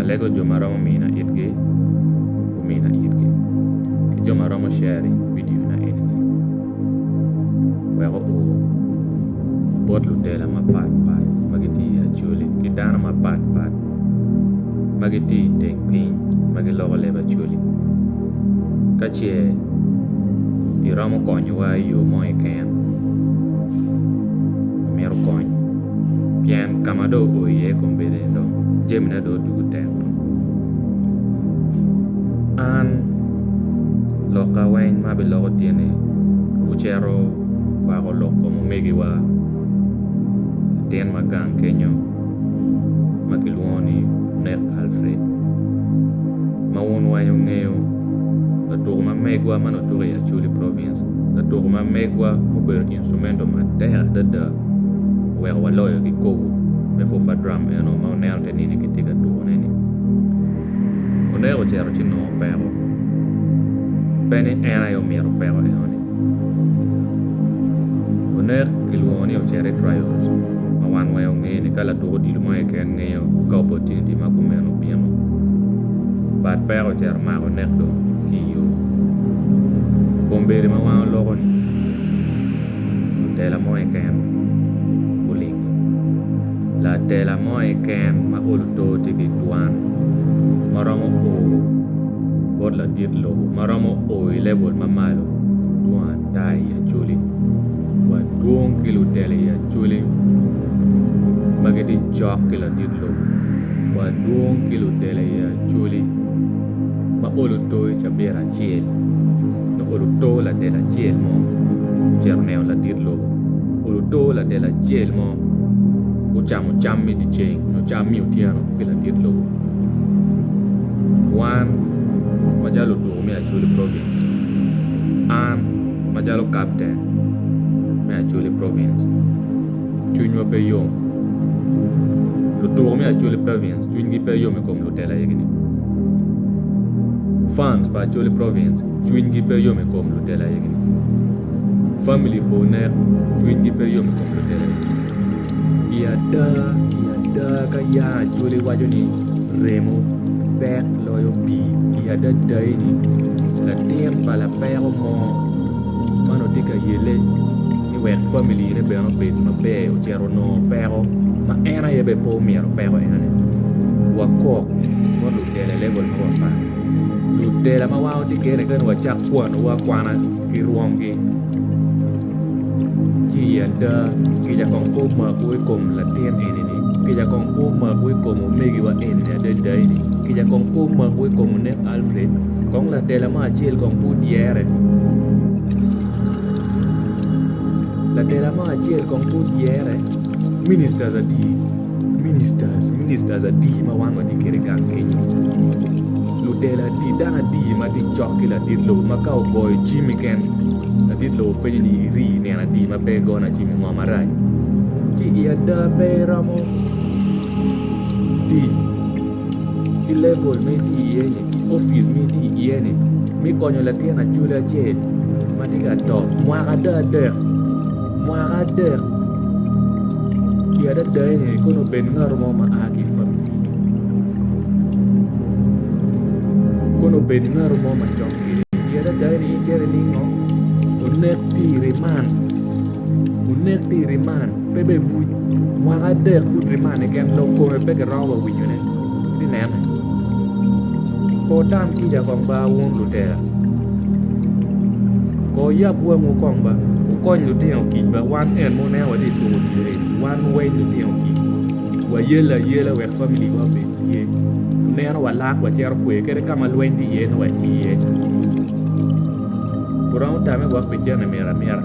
alego jo ma romo mina itgi gumina itgi ki jo ma romo sharing vidio na eni ni weko obwot lutela mapat pat ma gitye i acholi ki dano mapat pat ma gitye i teng piny ma giloko leb acholi ka ce iromo konyowa i yo mo keken myero kony pien ka ma dong ool iye i kom bedo-ni dong jamina dong odwogo tek dong an lokka weng ma abiloko tye ni wucito wukwako lok kom omegiwa latin ma gang kenyo ma kilwongo ni onek Alfred ma wun weng wungeyo latuko ma megwa ma nongo tuko i acholi province latuko ma megwa ma obedo instrumental matek adada. oweko waloyo kikopo me purfa drum eno ma waneno tye nini kitye ka tukone ni oneko ocito ci nongo opeko pe ni en aye omyero opeko eno ni onek kilwongo ni ocito i trayols ma wan weng wange ni ka latuk odilo mo keken ngeyo ka opportunity ma kumeno obino but peko ocito mako onek dong ki iyo kombeddi ma wan oloko ni lutela mo keken gulingo. Latela mo keken ma olo oto tye ki twan ma romo o bot ladit lobo ma romo o i level ma malo dwong ata i Acholi wa dwong ki lutela i Acholi ma gitye cok ki ladit lobo wa dwong ki lutela i Acholi. ma olo too i cabit acel nyo olo too ladel acel mo ocito neno ladit lobo olo too ladel acel mo gucamo cam me dye ceng nyo cam me otyeno ki ladit lobo wan macalo lutuku me acholi province an macalo kapten me acholi province cwinywa pe yom lutuku me acholi province cwinygi pe yom i kom Telo aye gini Fans pa Acholi Province cwiny gi pe yom ikom lutelo aye gini Family pa Onek cwiny gi pe yom ikom lutelo aye gini I ada I ada ka ya Acholi waco ni remo pek loyo pii I ada ada eni latin pa lapeko mo man otye ka yele ci wek famili-ne bene obed maber ocito onongo peko ma en aye bene pe omito peko enoni wakok bot lutela i level mapat pat lutela ma wan watye kene kadi wacak kwanowa akwana ki rwomgi ci i ada kica kong pe omako i kom latin eni-ni kica kong pe omako i kom omegiwa eni-ni adada ni kica kong pe omako i kom onek Alfred kong latela mo acel kong pe odyere. Latela mo acel kong pud yere ministers adi ministers ministers adi ma wan watye kwede gang kenyo lutela adi dano adi ma tye cok ki ladit lobo ma ka ogoyo cim keken ladit lobo penyo ni iri nino adi ma pe igona cim i ngom marac ci i ada pe iromo tic. ki level ma itye iye ni ki opic ma itye iye ni me konyo latin awobi acel ma tye ka to mwaka adek adek mwaka adek pi adada ni kono obed ngat mo ma aa ki famili kono obed ngat mo ma cok kwede pi adada ni in cito iningo onek tye i riman onek tye i riman. pe bene buc mwaka adek pud rimane gin dong kome pe giromo wa winyone ati nene ko tam kica kong ba wun lutera ko yab wangwu kong ba wukony lutino kic ba wan en ma wuneno wati tuku odilo eni wan wawiny lutino kic wayel ayela wek famili wa obed tye meno walak wacito kwe kadi ka ma lweny tye iye nongo watye iye wuromo tame wek pi cente miti amita.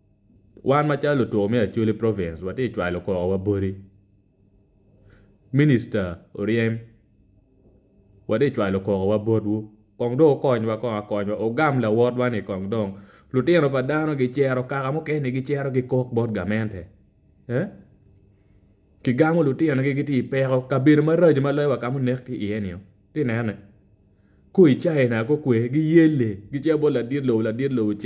Wan macalo lutur me Acholi province watye ka cwalo kor wa boti minister oryem watye ka cwalo kor wa botwu kong dong wukonywa kong akonywa wugam lawotwa ni kong dong lutino pa dano gicito kaka mukene gicito gikok bot gamente kigamo lutinogi gitye i peko kabedo maraco ma loyo wa ka ma onek tye iye ni itye ka nene kong i China kong kwer giyelle gicito bot ladit lobo ladit lobo ce.